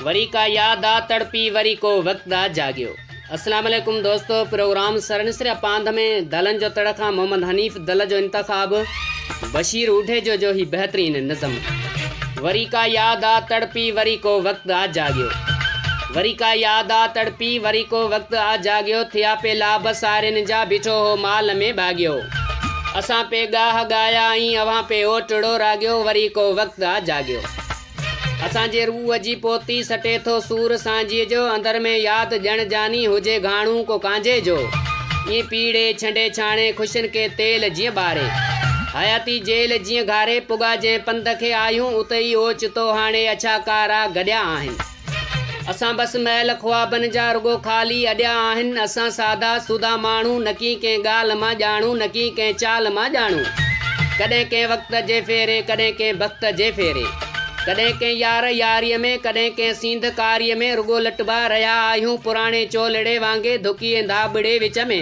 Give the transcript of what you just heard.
وري ڪا ياد آ تڙپي وري ڪو وقت آ جاڳيو. السلام عليڪم دوستو پروگرام سرنسريا پانڌ ۾ دلن جو تڙ کان محمد حنيف دل جو انتخاب بشير اوڍيجو جو هي بهترين نظم وري ڪا ياد آ تڙپي وري ڪو وقت آ جاڳيو. وري ڪا ياد آ تڙپي، وري ڪو وقت آ جاڳيو، ٿيا پي لابه سارين جا، بيٺو هو مال ۾ ٻاڳيو. اسان پي ڳاهه ڳايا ۽ اوهان پي اوٽڙو راڳيو، وري ڪو وقت آ جاڳيو. اسان جي روح جي پوتي، سٽي ٿو سور سانجهيء جو، اندر ۾ ياد ڄڻ جاني، هجي گهاڻو ڪو ڪانجهي جو. ائين پيڙهي، ڇنڊي ڇاڻي، خوشين کي تيل جيئن ٻاري. حياتي جيل جيئن گهاري، پڳا جنهن پنڌ کي آهيون، اتي ئي اوچتو هاڻي اڇا ڪارا گڏيا آهن. اسان بس محل خوابن جا رڳو خالي اڏيا آهن اسان سادا سودا ماڻهو نڪي ڪنهن ڳالهه مان ڄاڻو نڪي ڪنهن چال مان ڄاڻو ڪڏهن ڪنهن وقت جي ڦيري ڪڏهن ڪنهن بخت جي ڦيري ڪڏهن ڪنهن يار ياريء ۾ ڪڏهن ڪنهن سينڌ ڪاريء ۾ رڳو لٽبا رهيا آهيون پراڻي چولڙي وانگي ڌڪي ايندا ٻڙي وچ ۾.